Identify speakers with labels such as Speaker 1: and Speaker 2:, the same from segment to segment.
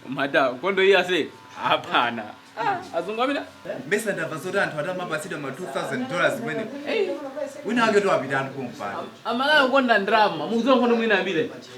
Speaker 1: mata nkhondo iyi ase hapana azungu amina mpesa
Speaker 2: ndabva zoti anthu ati amapatsidwa ma 2000 dollars kumene wina wake to apita anthu kumpanda Amalawi okonda
Speaker 1: ndrama mukudziwa nkhondo mwina ambile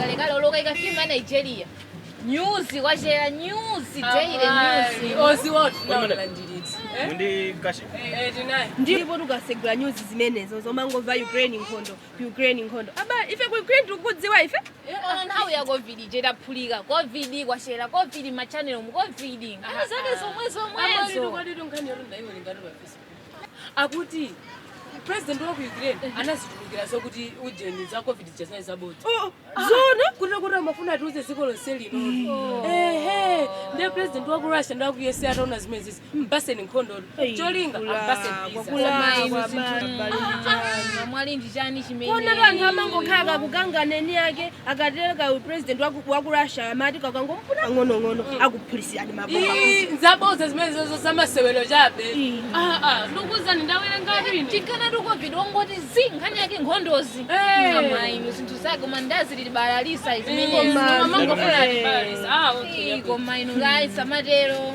Speaker 3: kalekale olokayika filimu ya nigeria nyuzi kwachera nyuzi daily nyuzi odziwatu
Speaker 4: nawalandiritsa Ndi kashi.
Speaker 5: tinayi ndipo
Speaker 4: tukasegula
Speaker 6: nyuzi zimenezo zomangomva ukraine nkhondo ukraine nkhondo aba ife ku ukraine tikukudziwako ife Koma nthawi
Speaker 3: ya covid ije itaphulika covid kwachera covid machanel mu covid nkhani zake zomwe zomwezo kodi tu
Speaker 4: nkhani yoti ndaiwerengatu pa Face akuti president wa ku ukraine anazitulukira zokuti ujeni za covid zija zinali zabodza zona
Speaker 6: kuti kuti amafuna
Speaker 4: atiuze dziko lonse lino ehe ndiye president wa ku russia ndi wa ku usa ataona zimene zi mpatseni nkhondo cholinga ampatseni
Speaker 3: visa mwati ndi chani chimene onera anthu amangokhala
Speaker 6: kakukanganeni ake akatero, ka president waku waku Russia amati kakangomufuna pang'onong'ono akuphulitsirani mabomba Ii, nzabodza
Speaker 4: zimenezo zo zamasewero chabe Ii. Ah, ah, ndikuwuzani ndawerengatu ine ati nkhani ya covid
Speaker 3: wangoti zi nkhani yake nkhondozi Eh. koma inu zinthu zake koma ndazi alibalalitsa izimenezi Koma- amangofuna Eh.
Speaker 4: alibalalitsa ah okay Ii, koma
Speaker 3: inu guys amatero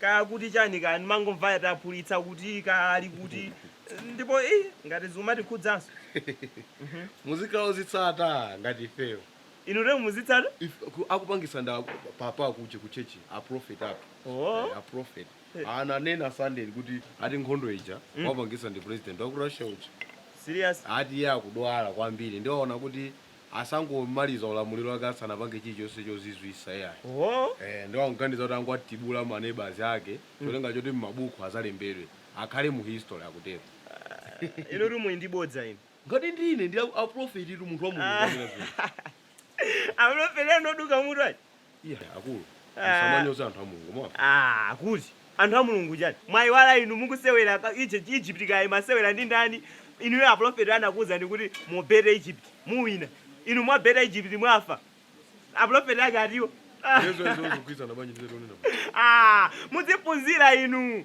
Speaker 5: kaya akuti chani kaya ndimangomva ati aphulitsa kuti kaya ali kuti ndipo eh, ngati zikumatikhudzanso Mhm.
Speaker 7: muzikhala ozitsata ngati ifeyo inu lero muzitsata
Speaker 5: If- ku- akupangisa
Speaker 7: nda papa akuti ku chechi aprofet athu Oh. Eh, aprofet Eh. ananena sunday kuti ati nkhondo ija Mm. wapangisa ndi president waku russia uja serious ati
Speaker 5: iye akudwala
Speaker 7: kwambiri ndiye waona kuti asangomaliza ulamuliro wake asanapange chilichonse chozizwisa iyayi eeh nde akuganiza kuti angowatibula ma neighbours ake cholinga choti mmabukhu azalembedwe akhale mu history akutero.
Speaker 5: Inutu muli ndi bodza inu. Ngati ndine,
Speaker 7: ndi a prophet tu munthu wa Mulungu wanena zimenezo.
Speaker 5: Aprophet anu oduka mutu aja. iyayi
Speaker 7: akulu Ah. musamanyoza anthu a mulungu mwamva Ah, kuti anthu
Speaker 5: a mulungu chani mwayiwala inu mukusewera ka- Egypt Egypt kaye amasewera ndi ndani inuyo aprofeti anakuwuzani kuti mubeta Egypt muwina inu mwabeta Egypt mwafa aprofeti ake atiwo Ah, izo izo zikugwirizana
Speaker 7: bwanji ndi zimene tikunena ah, mudziphunzira
Speaker 5: inu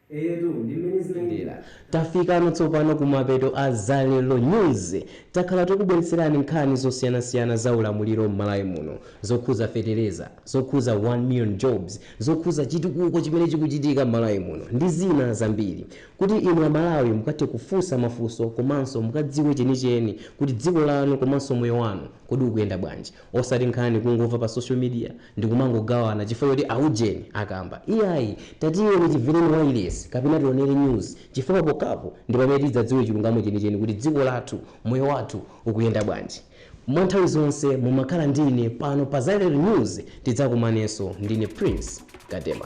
Speaker 4: Eyetu ndi
Speaker 8: mmene zinalili. Tafikano tsopano kumapeto a Zalero news. Takhala tikukubweretserani nkhani zosiyanasiyana za ulamuliro m'Malawi muno, zokhuza fetereza, zokhuza 1 million jobs, zokhuza chitukuko chimene chikuchitika m'Malawi muno ndi zina zambiri. Kuti inu a Malawi mukathe kufunsa mafunso komanso mukadziwe chenicheni kuti dziko lanu komanso moyo wanu kodi ukuyenda bwanji. Osati nkhani kungomva pa social media ndikumangogawana chifukwa choti a ujeni akamba iyayi tatiyeni timvereni wailesi kapena tionere news chifukwa pokapo ndipamene tidzadziwe chilungamo chenicheni kuti dziko lathu moyo wathu ukuyenda bwanji mwa nthawi zonse mumakhala ndi ine pano pa Zalero News tidzakumanenso ndine Prince Gadema.